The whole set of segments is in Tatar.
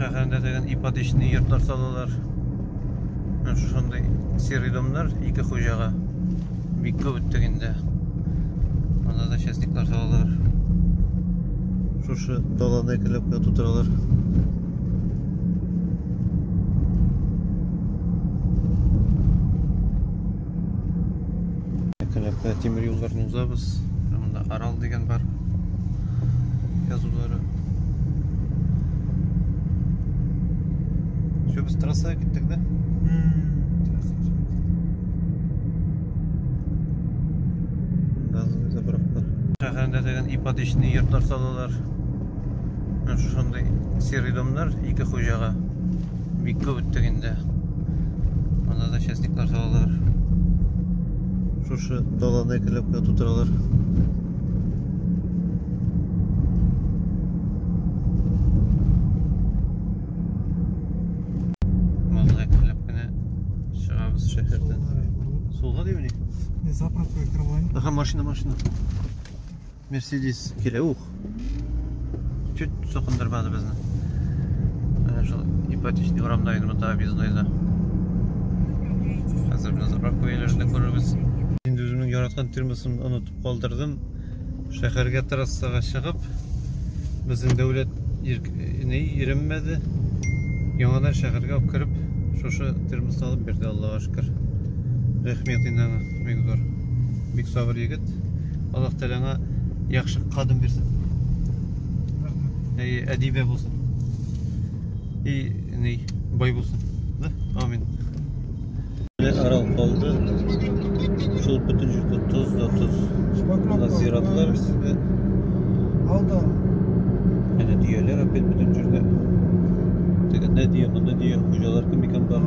Шәһәрендә дигән ипотечный йортлар салалар. Менә шушындый серый домнар ике хуҗага бик күп үттек инде. Анда да частниклар салалар. Шушы даланы экелеп кенә тутыралар. Тәләпкә тимер юлларны узабыз. Монда Арал дигән бар. Язулары. Все, без трассага киттек, да? Газымызды бырактык. Шәһәрендә дигән ипотечный йортлар салалар. Шушындый серый домнар ике хуҗага. Бик күп үттек инде. Монда да частниклар салалар. Шушы даланы әкелеп кенә тутыралар. Монда әкелеп кенә чыгабыз шәһәрдән. Сулга димени? Заправка кырылайын. Аха, машина, машина. Мерседис килә, ух. Чуть соқындырмады безне. Менә шул ипотечный урамда инде монда объездойда. Хәзер менә заправка ияләрендә күрербез. Инде үземнең яраткан термосын онытып калдырдым. Шәһәргә трассага чыгып, безнең дәүләт не иреммәде. Яңадан шәһәргә кереп, шушы термос алып бирде, Аллага шөкер. Рәхмәт инде аңа, бик зур. Бик сабыр егет. Аллаһ Тәгалә аңа яхшы кадым бирсен. Рәхмәт. И әдибә булсын. И ни, бай булсын. Да? Амин. Арал калды. Шул бөтен җирдә тоз да тоз. Шпатлап Зиратлар үсте. Алда. Әнә дөяләр опять бөтен җирдә. Тегендә дөя, монда дөя. Хуҗалар кем икән бар?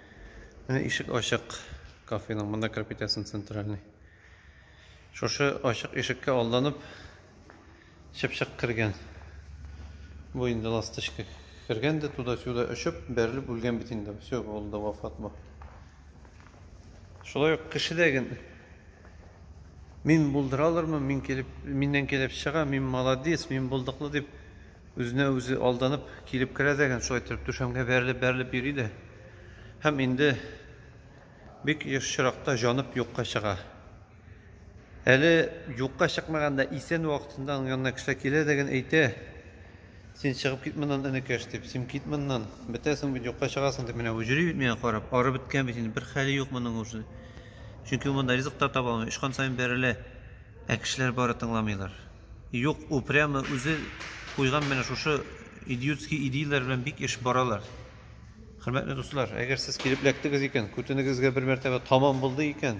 Менә ишек ачык кафеның, монда кереп китәсең центральный. Шушы ачык ишеккә алданып чыпчык кергән. Бу инде ласточка кергән дә туда-сюда очып, бәрелеп үлгән бит инде. Все, ул да вафат бу. Шулай ук кешедәген мин булдыра алырмын, мин килеп, миннән килеп чыга, мин молодец, мин булдыклы дип Үзенә үзе алданып килеп керә дә гел шулай иттереп түшәмгә бәрелеп-бәрелеп йөри дә һәм инде бик еш чиракта җанып юкка чыга. Әле юкка чыкмаганда исән вакытында аның янына кешеләр килә дә гел әйтә, Син чыгып кит моннан, энекәш, дип, син кит моннан, бетәсең бит, юкка чыгасың, дип менә үҗри бит миңа карап, арып беткән бит инде, бер хәле юк моның уже. Чөнки ул монда ризык та таба алмый, очкан саен бәрелә, ә кешеләр бары тыңламыйлар. Юк, ул прямо үзе куйган менә шушы идиотский идеяләр белән бик эш баралар. Хөрмәтле дуслар, әгәр сез килеп эләктегез икән, күтенегезгә бер мәртәбә таман булды икән,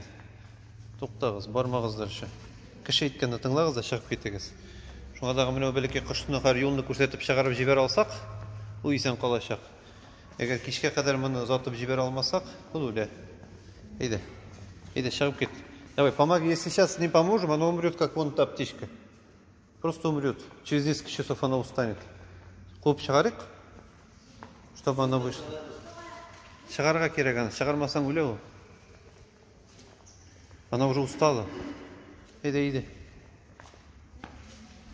туктагыз, бармагыздырчы. Кеше әйткәнне тыңлагыз да чыгып китегез. Шуңа дагы менә бәләкәй кошны хәр юлны күрсәтеп чыгарып җибәрә алсак, ул исән калачак. Әгәр кичкә кадәр моны озатып җибәрә алмасак, ул үлә. Әйдә. Әйдә, чыгып кит. Давай, помоги. Если сейчас не поможем, оно умрет, как вон та птичка. Просто умрет. Через несколько часов оно устанет. Куып чыгарыйк, чтобы оно вышло. Чыгарга кирәк аны. Чыгармасаң үлә ул. Она уже устала. Иди, иди.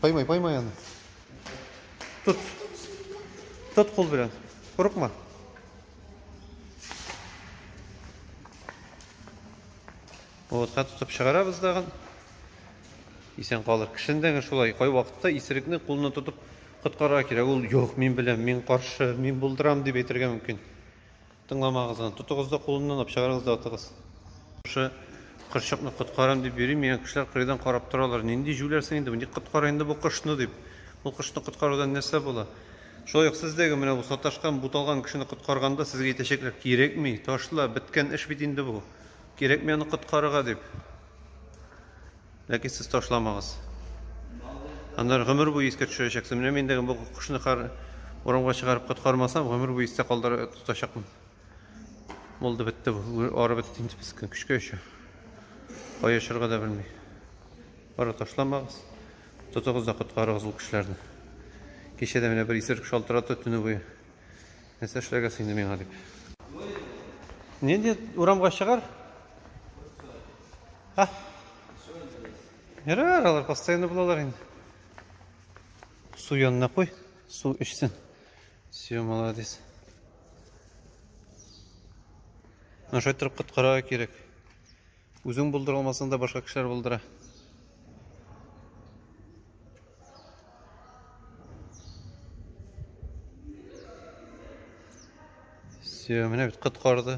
Поймай, поймай она. Тут. Тут кол белән. Курыкма. Отка тотып чыгарабыз дагын. Исән калыр. Кешендәге шулай кай вакытта исерекне кулына тотып коткара кирәк. Ул юк, мин беләм, мин каршы, мин булдырам дип әйтергә мөмкин. Тыңламагыз аны. Тотыгыз да кулыннан алып чыгарыгыз да атыгыз. Шушы кырчыкны коткарам дип йөри мигән кешеләр кырыйдан карап торалар. Нинди җүләр син инде, ник коткара инде бу кошны дип. Ул кошны коткарудан нәрсә була? Шулай ук сез дә менә бу саташкан, буталган кешене коткарганда сезгә әйтәчәкләр, кирәкми, ташла, беткән эш бит инде бу. Кирәкми аны коткарырга дип. Ләкин сез ташламагыз. Аннары гомер буе искә төшерәчәксез. Менә мин дә бу кошны кар урамга чыгарып коткармасам, гомер буе истә калдыра тотачакмын. Булды бетте бу. Ары бетте инде без көчкә өчә. Кая очырга да белми. Ара ташламагыз. Тотыгыз да коткарыгыз ул кешеләрне. Кичә дә менә бер исерек шалтырата төне буе. Нәрсә эшләргә син миңа дип. Нинди урамга чыгар? А? Ярар, алар постоянно булалар инде. Су янына куй, су эчсен. Все, молодец. Наша торып коткарырга кирәк. Үзең булдыра алмасаң да башка кешеләр булдыра. Все, менә бит коткарды.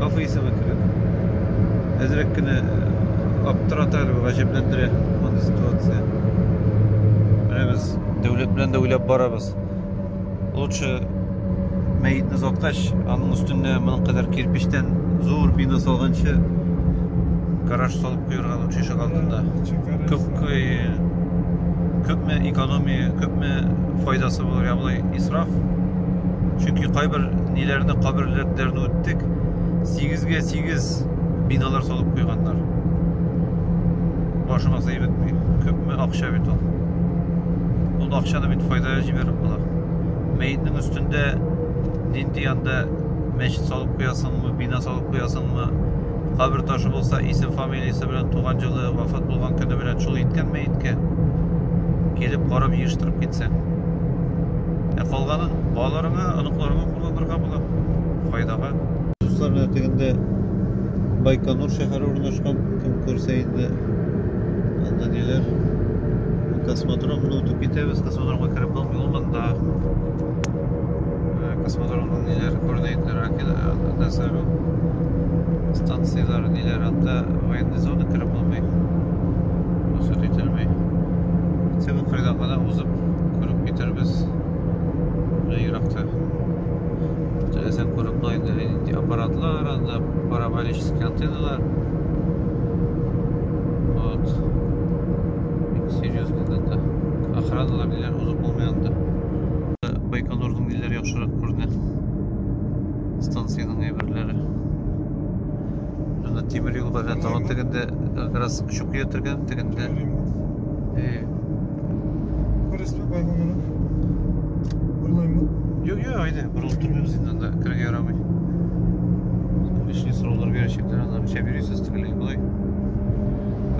Кафе исеме кебек. Әзрәк кенә аптырата әле, гаҗәпләндерә мондый ситуация. Менә без дәүләт белән дә уйлап барабыз. Лучше мәетне заткач, аның өстенә моның кадәр кирпичтән зур бина салганчы гараж салып куярга лучше ишек алдында. Күп күпме экономия, күпме файдасы булыр, я болай исраф. Чөнки кайбер ниләрне каберләрне үттек. 8-гә 8 биналар салып куйганнар. Башыма сыйып бетми. Күпме акча бит ул. Ул акчаны бит файдага җибәреп була. Мәетнең өстендә нинди анда мәчет салып куясыңмы, бина салып куясыңмы, кабер ташы булса, исем фамилия Милиса белән туган җылы вафат булган көне белән шул иткән мәеткә килеп карап җыештырып китсәң. Ә калганын балаларыңа, оныкларыңа кулланырга була. Файдага. Дуслар менә тегендә Байконур шәһәре урнашкан. Кем күрсә инде анда ниләр. Космодром, ну, үтеп китәбез, космодромга кереп булмый, ул монда. космодромның ниләр координаталары әкелә сәлу станцияләре ниләр анда военный зона кереп булмый рөхсәт ителми тик кырда гына узып күреп китербез менә еракта теләсәң күреп була инде аппаратлар анда параболический антенналар вот серьезный охраналар ниләр узып булмый анда Байконурның ниләр яхшырак күренә. Станциянең әйберләре. Анда тимер юл бар, тагын тегендә как раз чукы ятырган, тегендә. Э. Күрәсез бай булганы. Бурлаймы? Юк, юк, айда, бурылып тормыйбыз инде анда, кергә ярамый. Лишний сораулар бирәчәкләр, анда ничә бирисез, тегеләй, болай.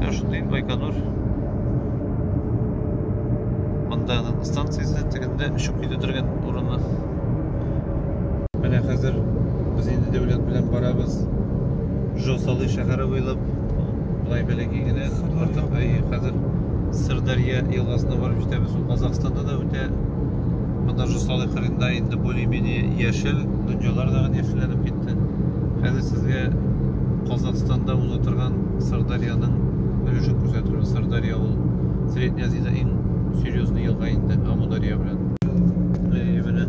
Ә шундый Байконур. Монда аның станциясе тегендә өчеп китә торган урыны. Менә хәзер без инде дәүләт белән барабыз. Жосалы шәһәре буйлап былай бәләкәй генә артык әйе хәзер Сырдарья елгасына барып җитәбез. Ул Казахстанда да үтә. Монда Жосалы кырында инде более-менее яшел, дөньялар да яшелләнеп китте. Хәзер сезгә Казахстанда уза торган Сырдарьяның өлешен күрсәтергә. Сырдарья ул Средняя Азиядә иң серьезный елга инде Амударья белән. Әйе, менә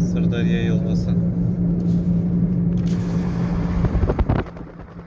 Сырдарья елгасы.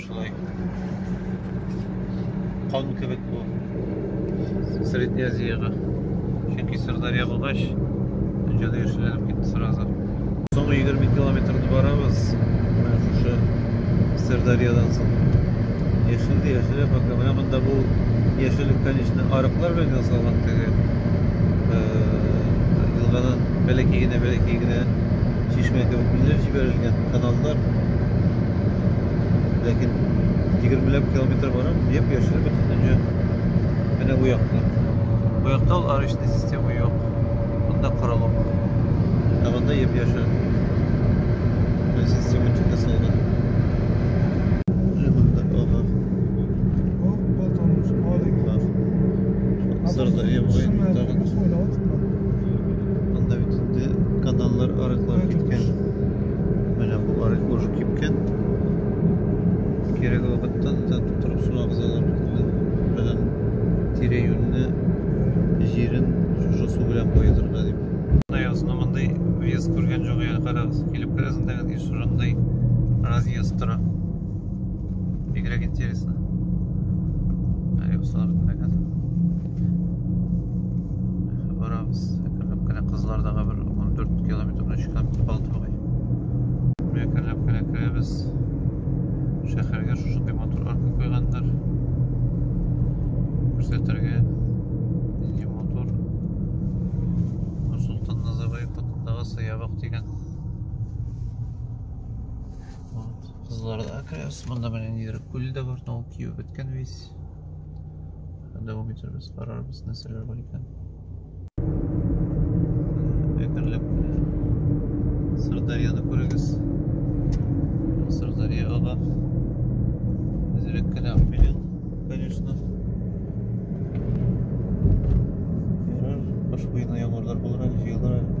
Шулай. Кан кебек бу. Средняя Азиягә. Чөнки Сырдарья булгач, җаны яшьләнеп китте сразу. Соңгы 20 километрны барабыз. Менә шушы Сырдарьядан соң. Яшел дә яшел пока. Менә монда бу яшеллек, конечно, арыклар белән ясалган теге. Елгадан бәләкәй генә, бәләкәй генә чишмә кебек билгеләп җибәрелгән каналлар. Ләкин 20 ләп километр барам, дип яшел бөтен дөнья. Менә бу якта. Бу якта ул арычный система юк. Монда корылык. Ә монда еп яшел. Бу система чыга салган. Сырда ем гай тагын. Анда бит инде каналлар арыклар киткән. Менә бу арык уже кипкән. Кирәге вакытта да тутырып су агызалар. Белән тирә-юньне җирен шушы су белән боедырга дип. Аясына мондый вес күргән җогы яны карагыз. Килеп керәсен дәгән еш шундый разъезд тора. Бигрәк интересно. Аясына барабыз әкренләп кенә кызлар дағы бер он дүрт километр өч километр калды бугай әкренләп кенә керәбез шәһәргә шушындый матур арка куйганнар күрсәтергә нинди матур нурсултан назарбаев атындагы саябак дигән кызларда керәбез монда менә нидер күл дә бар но ул кибеп беткән весь дәвам итәрбез карарбыз нәрсәләр бар икән әкренләп сырдарьяны күрегез сырдарья ага әзерәк кенә белен конечно ярар кыш буена яңгырлар булыр әле җыелыр әле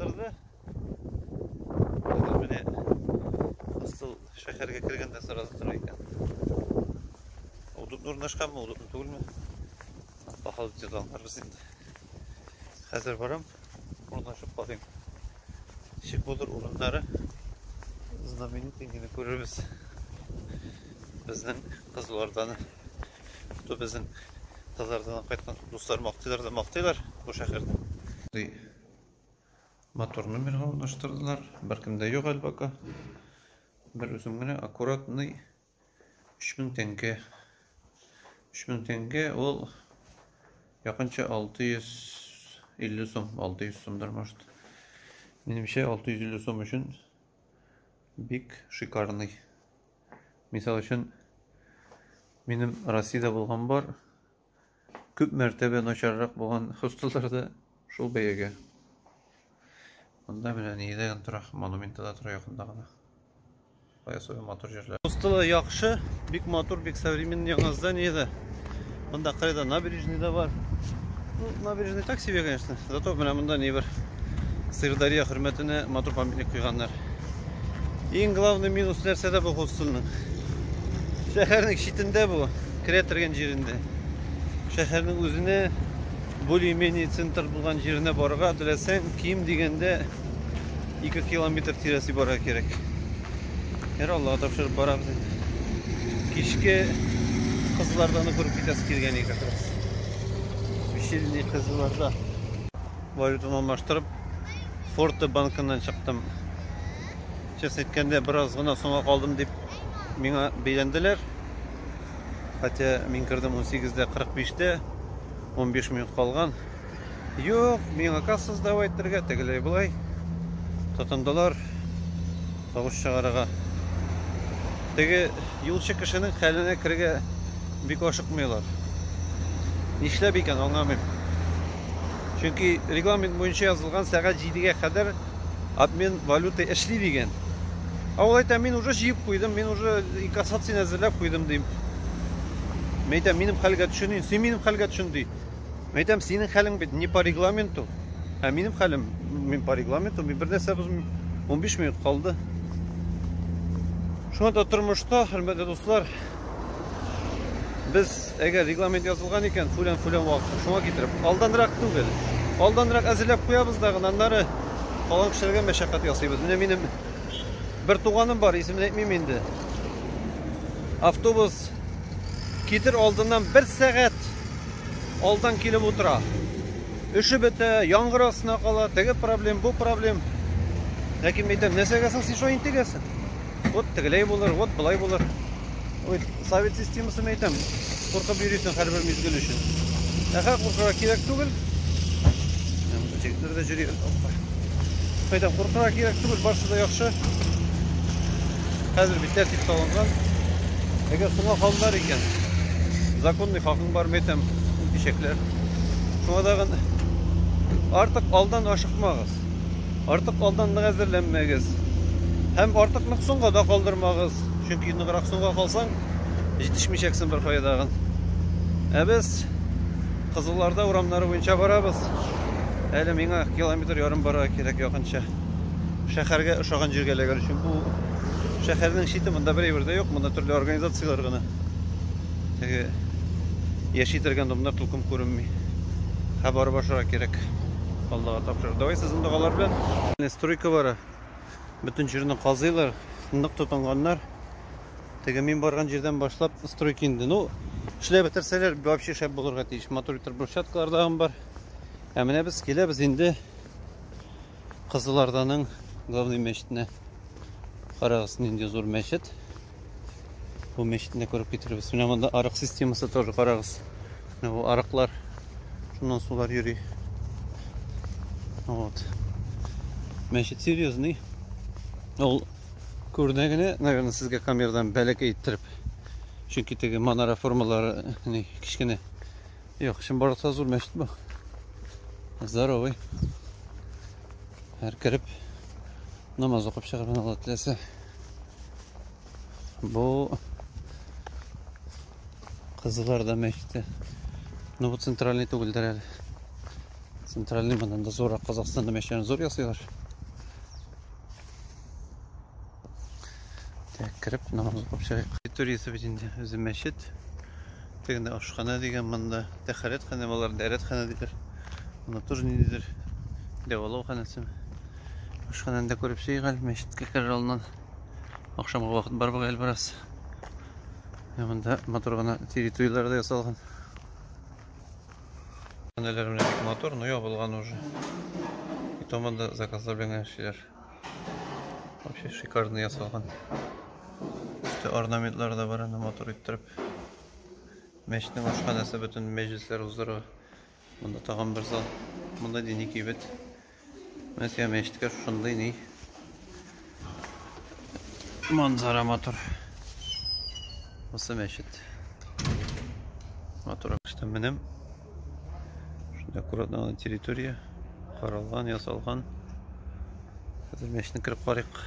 Торды. Хәзер менә асыл шәһәргә кергәндә сразу тора икән. Удутны урнашканмы, удутны түгелме? По ходу дела аңларбыз инде. Хәзер барам, урнашып карыйм. Ничек булыр урыннары? Знаменитый генә күрербез. Безнең кызлардан, то безнең кызлардан кайткан дуслар мактыйлар да мактыйлар бу шәһәрне. Мотор номерга урнаштырдылар. Беркем дә юк әлбака. Бер үзем генә аккуратный 3000 тәңкә. 3000 тәңкә ул якынча 650 сум, 600 сумдыр может. Минемчә 650 сум өчен бик шикарный. Мисал өчен минем Россиядә булган бар күп мәртәбә начаррак булган хостеллар да шул бәягә. Монда менә нидә генә тора, монументта да тора якында гына. Баясовый матур җирләр. Хостелы яхшы, бик матур, бик современный яңа здание да. Монда кырыйда набережный да бар. Ну, набережный так себе, конечно. Зато менә монда нибер Сырдарья хөрмәтенә матур памятник куйганнар. Иң главный минус нәрсәдә бу хостелның? Шәһәрнең читендә бу, керә торган җирендә. Шәһәрнең үзенә более-менее центр булган җиренә барырга теләсәң, ким дигәндә 2 километр тирәсе барырга кирәк. Һәр Аллага тапшырып барабыз инде. Кичке кызлардан күреп китәсе килгән иде как раз. Вечерний кызларда. Валютаны алмаштырып, Форте банкыннан чыктым. Чест әйткәндә, бераз гына соңга калдым дип миңа бәйләнделәр. Хотя мин кердем 18-дә 45-тә, 15 минут калган. Юк, миңа касса сдавать итәргә, тегеләй болай. Тотындылар. Тавыш чыгарырга. Теге юлчы кешенең хәленә керергә бик ашыкмыйлар. Нишләп икән, аңламыйм. Чөнки регламент буенча язылган сәгать 7-гә кадәр обмен валюты эшли дигән. Ә ул әйтә, мин уже җыеп куйдым, мин уже инкассацияне әзерләп куйдым, дим. Мәйтә, минем хәлгә төшенин, син минем хәлгә төшен, ди. Мин әйтәм, синең хәлең бит не по регламенту. Ә минем хәлем, мин по регламенту, мин бер нәрсә бозмыйм. 15 минут калды. Шуңа да тормышта, хөрмәтле дуслар, без әгәр регламент язылган икән, фүлән фүлән вакыт шуңа китереп, алданрак түгел. Алданрак әзерләп куябыз да гына аннары калган кешеләргә мәшәкать ясыйбыз. Менә минем бер туганым бар, исемен әйтмим инде. Автобус китер алдыннан бер сәгать Алдан килеп утыра. Эше бетә, яңгыр астына кала, теге проблем, бу проблем. Ләкин мин әйтәм, нәрсәгә соң син шулай интегәсең? Вот тегеләй булыр, вот былай булыр. Вот совет системасын әйтәм, куркып йөрисең һәрбер мизгел өчен. Ә хәзер куркырга кирәк түгел. Җегетләр дә җөри. Әйтәм, куркырга кирәк түгел, барсы да яхшы. Хәзер бит тәртип салынган. Әгәр соңга калдылар икән, законный хакың бар, мәйтәм, үтәчәкләр. Шуңа тагын артык алдан ашыкмагыз. Артык алдан нык әзерләнмәгез. Һәм артык нык соңга да калдырмагыз. Чөнки ныграк соңга калсаң, җитешмичәксең бер кая тагын. Ә без Кызылларда урамнары буенча барабыз. Әле миңа километр ярым барырга кирәк якынча. Шәхәргә ошаган җиргә эләгер өчен бу шәхәрнең чите монда берәйбер дә юк, монда төрле организацияләр генә. Теге яши торган домнар тулкын күренми. Һә барып ашарга кирәк. Аллага тапшырыр. Давай сезнең догалар белән. Стройка бара. Бөтен җирне казыйлар, нык тотынганнар. Теге мин барган җирдән башлап стройка инде. Ну, эшләп бетерсәләр, вообще шәп булырга тиеш. Матур итеп брусчаткалар да бар. Ә менә без киләбез инде. Кызыларданың главный мәчетенә карагыз, нинди зур мәчет. Бу мәчетне күреп китеребез. Менә монда арык системасы тоже карагыз. Менә бу арыклар. Шуннан сулар йөри. Вот. Мәчет серьезный. Ул күренә генә, наверное, сезгә камерадан бәләкәй иттереп. Чөнки теге манара формалары кечкенә. Юк, чынбарлыкта зур мәчет бу. Здоровый. Һәр кереп намаз укып чыгып Алла теләсә. Бу кызылар да мәчете. Ну, бу центральный түгелдер әле. Центральный моннан да зуррак Казахстанда мәчетләрен зур ясыйлар. Так, кереп намаз укып чыгыйк. Территориясе бит инде үзе мәчет. Тегендә ашхана дигән монда. Тәхәрәтханә болар дәрәтханә диләр. Монда тоже ниндидер дәвалау ханәсе. Ашхананы да күреп чыгыйк әле мәчеткә керер алдыннан. Ахшамга вакыт бар бугай әле бераз. Монда матур гына территорияләр дә ясалган. Ханәләр менә бик матур, но ябылган уже. И то монда заказлар белән генә эшлиләр. Вообще шикарно ясалган. Өсте орнаментлар да бар, аны матур иттереп. Мәчетнең ашханәсе бөтен мәҗлесләр уздыра. Монда тагын бер зал. Монда дини кибет. Менә сиңа мәчеткә шундый ни. Манзара матур. Осы мәчет. Матур. Менем Шунда аккуратно гына территория каралган, ясалган. Хәзер мәчетне кереп карыйк.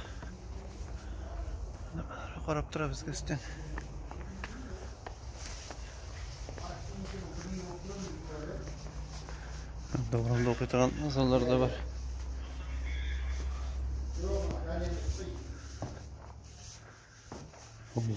Карап тора безгә өстән. Добранда укый торган азанлар да бар. Ой,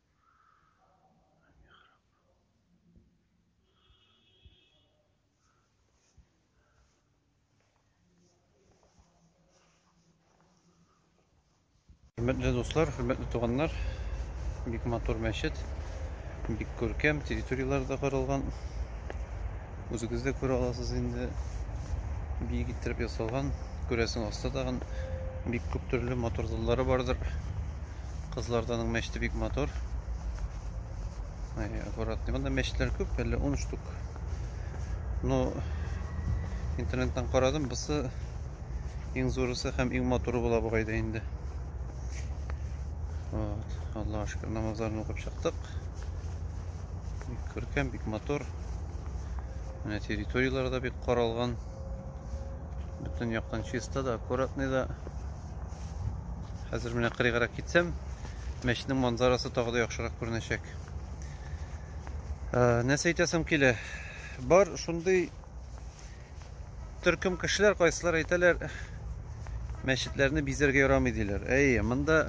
Хөрмәтле дуслар, хөрмәтле туганнар, бик матур мәчет, бик күркәм, территорияләр дә каралган. Үзегез дә күрә аласыз инде. Биек иттереп ясалган. Күрәсең, аста тагын бик күп төрле мотор заллары бардыр. Кызларданың мәчте бик мотор. Ай, аккуратный. Монда мәчетләр күп, әле 10 штук. Но интернеттан карадым, бусы иң зурысы һәм иң моторы була бугай да инде. Вот, Аллаһ шөкер, намазларны укып чыктык. Бик күркәм, бик матур. Менә территорияләре дә бик каралган. Бөтен яктан чиста да, аккуратный да. Хәзер менә кырыйгарак китсәм, мәчетнең манзарасы тагы да яхшырак күренәчәк. Нәрсә әйтәсем килә? Бар шундый төркем кешеләр кайсылар әйтәләр, мәчетләрне бизәргә ярамый диләр. Әйе, монда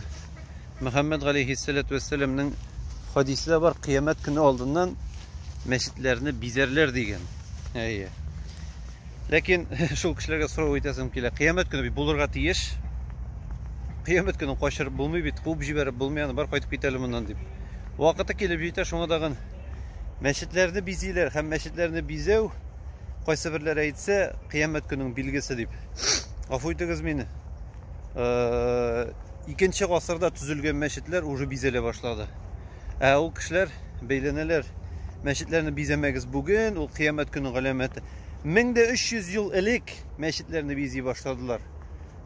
Мөхәммәд галәйһиссәләту вәссәламның хадисе дә бар, кыямәт көне алдыннан мәчетләрне бизәрләр дигән. Әйе. Ләкин шул кешеләргә сорау итәсем килә. Кыямәт көне бит булырга тиеш. Кыямәт көне качырып булмый бит, куып җибәреп булмый, аны бар кайтып кит әле моннан дип. Вакыты килеп җитә, шуңа дагын мәчетләрне бизиләр һәм мәчетләрне бизәү Кайсы берләре әйтсә, кыямәт көнең билгесе дип. Гафу итегез мине. Икенче гасырда төзелгән мәчетләр уже бизәлә башлады. Ә ул кешеләр бәйләнәләр. Мәчетләрне бизәмәгез бүген, ул кыямәт көне галәмәте. 1300 ел элек мәчетләрне бизи башладылар.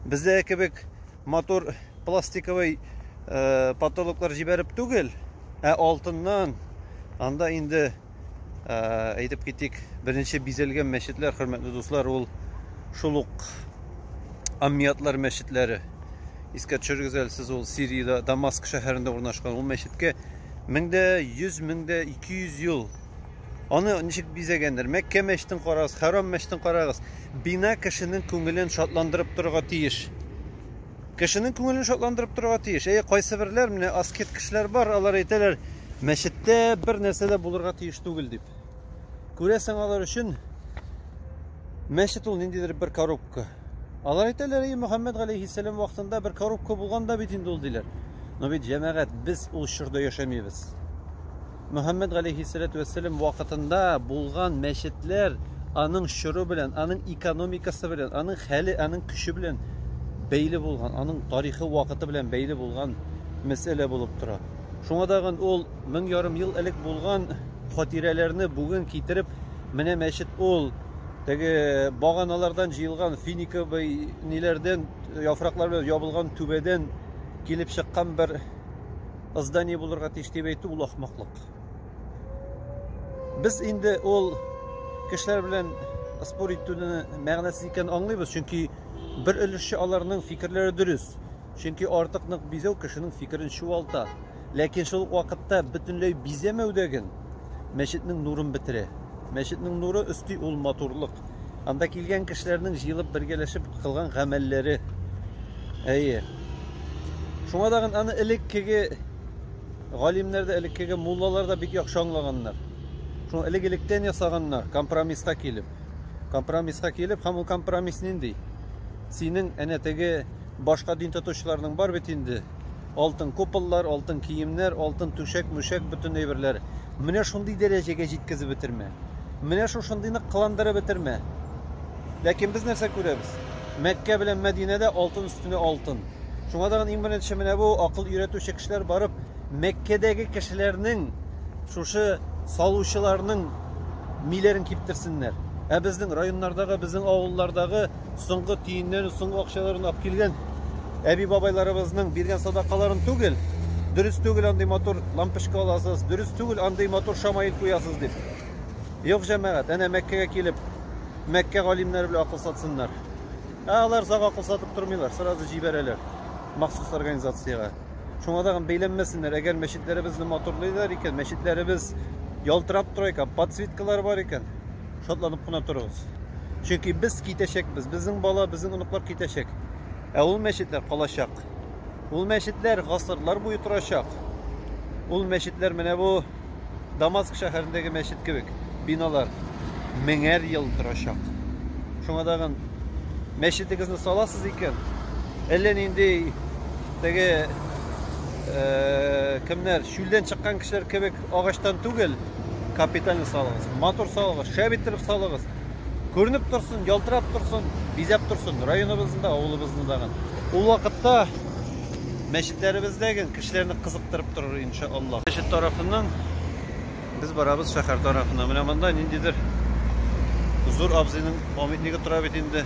Бездә кебек мотор пластиковый потолоклар җибәреп түгел, ә алтыннан анда инде әйтеп китик беренче бизәлгән мәчетләр хөрмәтле дуслар ул шул ук аммиатлар мәчетләре искә төшерегез әле сез ул сириядә дамаск шәһәрендә урнашкан ул мәчеткә меңдә йөз меңдә ике йөз ел аны ничек бизәгәндер мәккә мәчетен карагыз хәрам мәчетен карагыз бина кешенең күңелен шатландырып торырга тиеш Кешенең күңелен шатландырып торырга тиеш. Әйе, кайсыберләр, менә аскет кешеләр бар, алар әйтәләр, мәчеттә бер нәрсә дә булырга тиеш түгел дип. Күрәсең, алар өчен мәчет ул ниндидер бер коробка. Алар әйтәләр, әйе, Мөхәммәд галәйһиссәлам вакытында бер коробка булган да бит инде ул, диләр. Но бит, җәмәгать, без ул чорда яшәмибез. Мөхәммәд галәйһиссәләтү вәссәлам вакытында булган мәчетләр аның чоры белән, аның экономикасы белән, аның хәле, аның көче белән бәйле булган, аның тарихы вакыты белән бәйле булган мәсьәлә булып тора. Шуңа тагын ул мең ярым ел элек булган хатирәләрне бүген китереп, менә мәчет ул теге баганалардан җыелган финиковый ниләрдән яфраклар белән ябылган түбәдән килеп чыккан бер здание булырга тиеш дип әйтү ул ахмаклык. Без инде ул кешеләр белән спор итүне мәгънәсез икән аңлыйбыз, чөнки бер өлешчә аларның фикерләре дөрес. Чөнки артык нык бизәү кешенең фикерен чуалта. Ләкин шул вакытта бөтенләй бизәмәү дә ген мәчетнең нурын бетерә. Мәчетнең нуры өсти ул матурлык. Анда килгән кешеләрнең җыелып бергәләшеп кылган гамәлләре. Әйе. Шуңа да аны элеккеге галимнәр дә, элеккеге муллалар да бик яхшы аңлаганнар. Шуны элек-электән ясаганнар, компромисска килеп. Компромисска килеп, һәм ул компромисс нинди? Синең әнә теге башка дин тотучыларның бар бит инде Алтын куполлар, алтын киемнәр, алтын түшәк, мүшәк, бөтен әйберләр. Менә шундый дәрәҗәгә җиткезеп бетермә. Менә шушындыйны кыландырып бетермә. Ләкин без нәрсә күрәбез? Мәккә белән Мәдинәдә алтын өстенә алтын. Шуңа тагын иң беренче менә бу акыл өйрәтүче кешеләр барып, Мәккәдәге кешеләрнең шушы салучыларның миләрен киптерсеннәр. Ә безнең районнардагы, безнең авыллардагы Соңгы тиеннән соңгы акчаларын алып килгән әби-бабайларыбызның биргән садакаларын түгел. Дөрес түгел андый матур лампочка аласыз, дөрес түгел андый матур шамаил куясыз дип. Юк, җәмәгать, әнә Мәккәгә килеп, Мәккә галимнәре белән акыл сатсыннар. Ә алар зак акыл сатып тормыйлар, сразу җибәрәләр махсус организациягә. Шуңа тагын бәйләнмәсеннәр, әгәр мәчетләребезне матурлыйлар икән, мәчетләребез ялтырап тора икән, подсветкалар бар икән, шатланып кына торыгыз. Чөнки без китәчәкбез, безнең бала, безнең оныклар китәчәк. Ә ул мәчетләр калачак. Ул мәчетләр гасырлар буе торачак. Ул мәчетләр менә бу Дамаск шәһәрендәге мәчет кебек биналар меңәр ел торачак. Шуңа тагын мәчетегезне саласыз икән, әллә нинди теге э, кемнәр чүлдән чыккан кешеләр кебек Агачтан түгел, капитально салыгыз. Матур салыгыз, шәп иттереп салыгыз. Күренеп торсын, ялтырап торсын, бизәп торсын районыбызны да, авылыбызны да. Ул вакытта мәчетләребездәге кешеләрне кызыктырып торыр иншаллаһ. Мәчет тарафыннан без барабыз шәһәр тарафына. Менә монда ниндидер зур абзыйның памятнигы тора бит инде.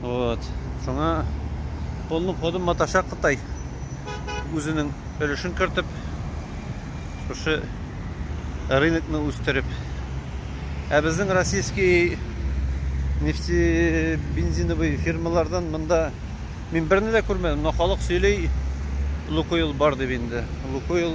Вот. Шуңа полным ходом маташа Кытай. Үзенең өлешен кертеп, шушы рынокны үстереп. Ә безнең российский нефтебензиновый фирмалардан монда мин берне дә күрмәдем, но халык сөйли, Лукойл бар дип инде. Лукойл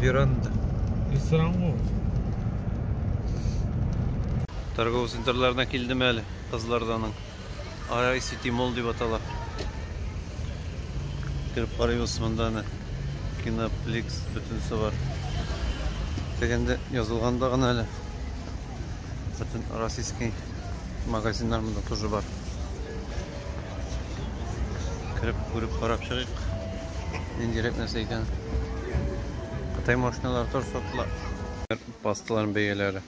Веранда. Ресторан ғой. Торговый центрларына килдем әле кызларданың. Арай Сити Мол дип атала. Кереп карыйбыз монда аны. Киноплекс бөтенесе бар. Дегенде язылганда гына әле. Бөтен российский магазиннар монда тоже бар. Кереп күреп карап чыгыйк. Ниндирәк нәрсә икән? Кытай машиналары тор сатыла. Пасталарның бәяләре.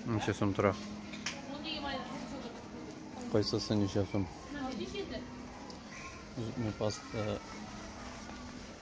Ничә сум тора? Кайсысы ничә сум? Зубный паста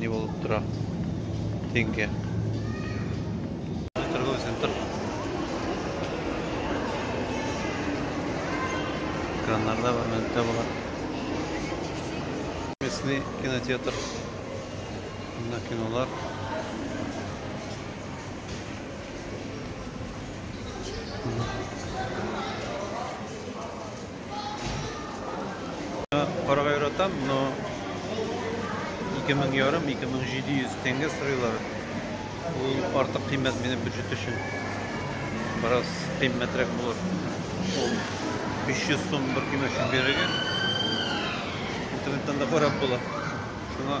не булып тора. Тенге. Торган центр. Экраннарда бар, минутта бар. Местный кинотеатр. Бунда кинолар. Карга яратам, но 2000 ярым, 2700 тенге сырыйлар. Ул артык кыйммәт минем бюджет өчен. Бераз кыйммәтрәк булыр. Ул 500 сум бер кило өчен бирергә. Интернеттан да карап була. Шуңа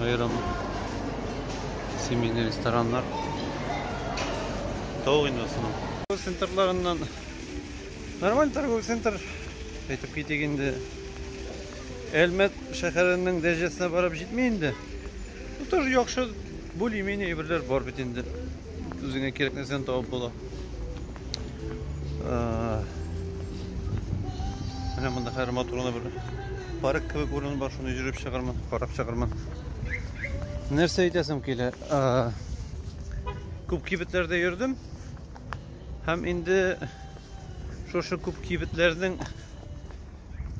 Аерым семейный рестораннар. Тау инде соның. Центрларыннан нормаль торговый центр әйтеп китик инде. Әлмәт шәһәренең дәрәҗәсенә барып җитми инде. Ну тоже яхшы более-менее әйберләр бар бит инде. Үзеңә кирәк нәрсәне табып була. Менә монда хәзер матур гына бер парк кебек урын бар, шуны йөреп чыгармын, карап чыгармын. Нәрсә әйтәсем килә? Күп кибетләрдә йөрдем. Һәм инде шушы күп кибетләрнең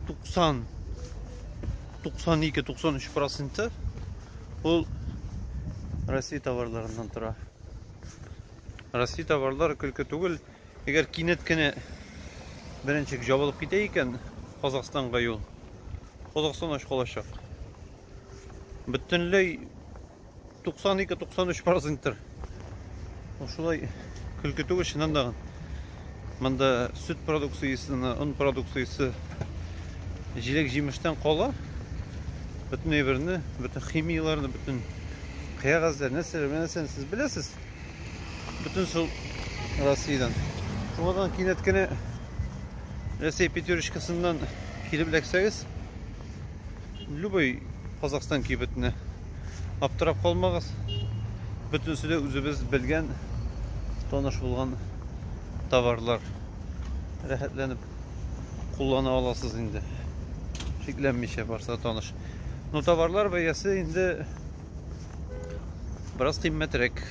90 92-93 проценты ул Россия товарларыннан тора. Россия товарлары көлке түгел. Әгәр кинәт кенә беренчек жабылып китә икән Казахстанга юл, Казахстан ач калачак. Бөтенләй 92-93 проценттер. Шулай көлке түгел, чыннан да. Монда сөт продукциясе, он продукциясе, җиләк җимештән кала, бөтен әйберне, бөтен химияләрне, бөтен кәгазьләр, нәрсәләр, нәрсәне сез беләсез. Бөтен шул Россиядән. Шуңадан кинәт кенә Рәсәй пятерочкасыннан килеп эләксәгез, Любой Казахстан кибетне аптырап калмагыз. Бөтенесе дә үзебез белгән, таныш булган товарлар. Рәхәтләнеп куллана аласыз инде. Шикләнмичә барса таныш. Но товарлар бәясе инде бераз кыйммәтрәк.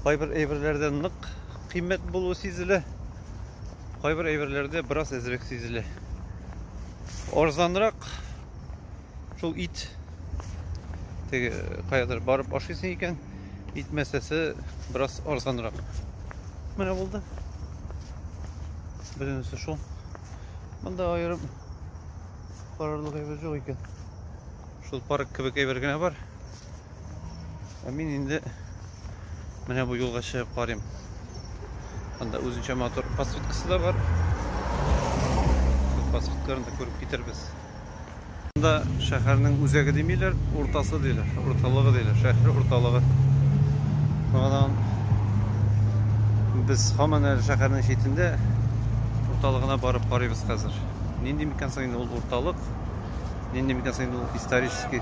Кайбер әйберләрдә нык Кыйммәт булуы сизелә. Кайбер әйберләрдә бераз әзрәк сизелә. Арзанрак шул ит теге каядыр барып ашыйсың икән, ит мәсәсе бераз арзанрак. Менә булды. Беренче шул. Монда аерым карарлык әйбер юк икән. Шул парк кебек әйбер генә бар. Ә мин инде менә бу юлга чыгып карыйм. Анда үзенчә мотор подсветкасы да бар. Подсветкаларын да күреп китербез. Анда шәһәрнең үзәге димиләр, уртасы диләр, урталыгы диләр, шәһәр урталыгы. Багадан без һаман әле шәһәрнең читендә урталыгына барып карыйбыз хәзер. Нинди микән соң инде ул урталык? Нинди микән соң инде ул исторический?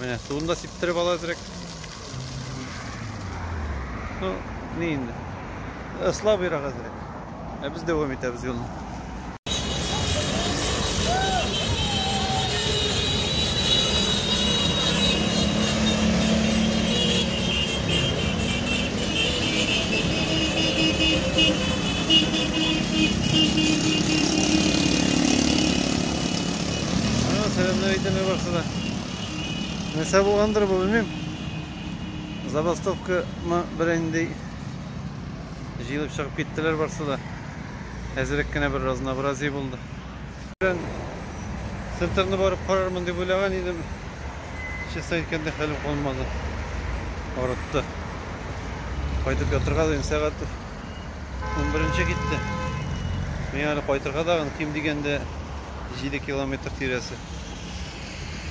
Менә суын да сиптереп ала әзрәк. Ну, ни инде. Ыслабыйрак әзрәк. Ә без дәвам итәбез юлны. Сәләмнәр әйтәме барсы да. Нәрсә булгандыр бу, белмим. Забастовка мы бренди җыелып чыгып киттеләр барсы да. Әзерек кенә бер разнообразие булды. Центрны барып карармын дип уйлаган идем. Честно әйткәндә хәлем калмады. Арытты. Кайтып ятырга да инде сәгать Унберенче китте. Мин әле кайтырга да ким дигәндә 7 километр тирәсе.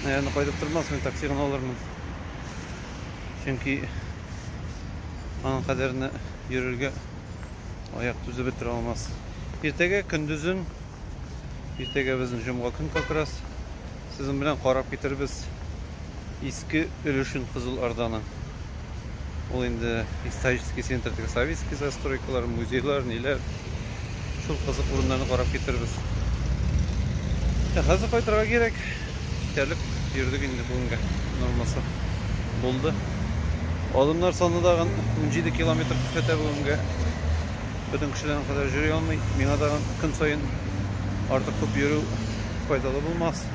Наверное, кайтып тормас, мин такси гына алырмын. Чөнки аның кадәрне йөрергә аяк түзеп бетерә алмас. Иртәгә көндезен Иртәгә безнең җомга көн как раз. Сезнең белән карап китербез иске өлешен Кызыл Орданың. Ул инде исторический центр теге советский застройкалар, музейлар, ниләр. Шул кызык урыннарны карап китербез. Ә хәзер кайтырга кирәк. Җитәрлек йөрдек инде бүгенгә. Нормасы булды. Адымнар саны тагын 17 километр күрсәтә бүгенгә. Бөтен кешеләрнең кадәр йөри алмый. Миңа да көн саен артык күп йөрү файдалы булмас.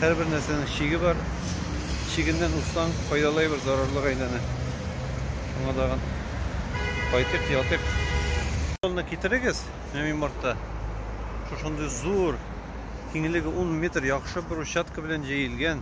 Һәрбер нәрсәнең чиге бар. Чигеннән узсаң, файдалы әйбер зарарлыга әйләнә. Шуңа тагын кайтыйк, ятыйк. Тонна китерегез, менә мин мартта. Шушындый зур, киңлеге 10 метр, яхшы брусчатка белән җәелгән.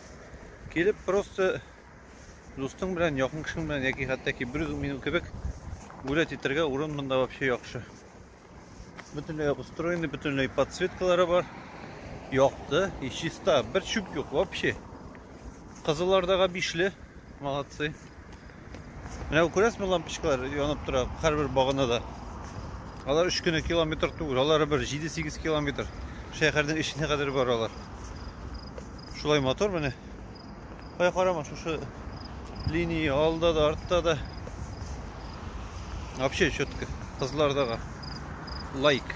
Килеп просто дустың белән, якын кешең белән яки хәтта ки бер минут кебек гулять итәргә урын монда вообще яхшы. Бөтенләй обустроенный, бөтенләй подсветкалары бар. Якты и чиста. Бер чүп юк вообще. Кызыллардага бишле. Молодцы. Менә күрәсезме лампочкалар янып тора һәрбер баганада. Алар 3 кенә километр түгел, алар бер 7-8 километр шәһәрнең эченә кадәр баралар. Шулай мотор менә. Кая карама, шушы линия алда да, артта да. Вообще четко. Кызлардагы лайк.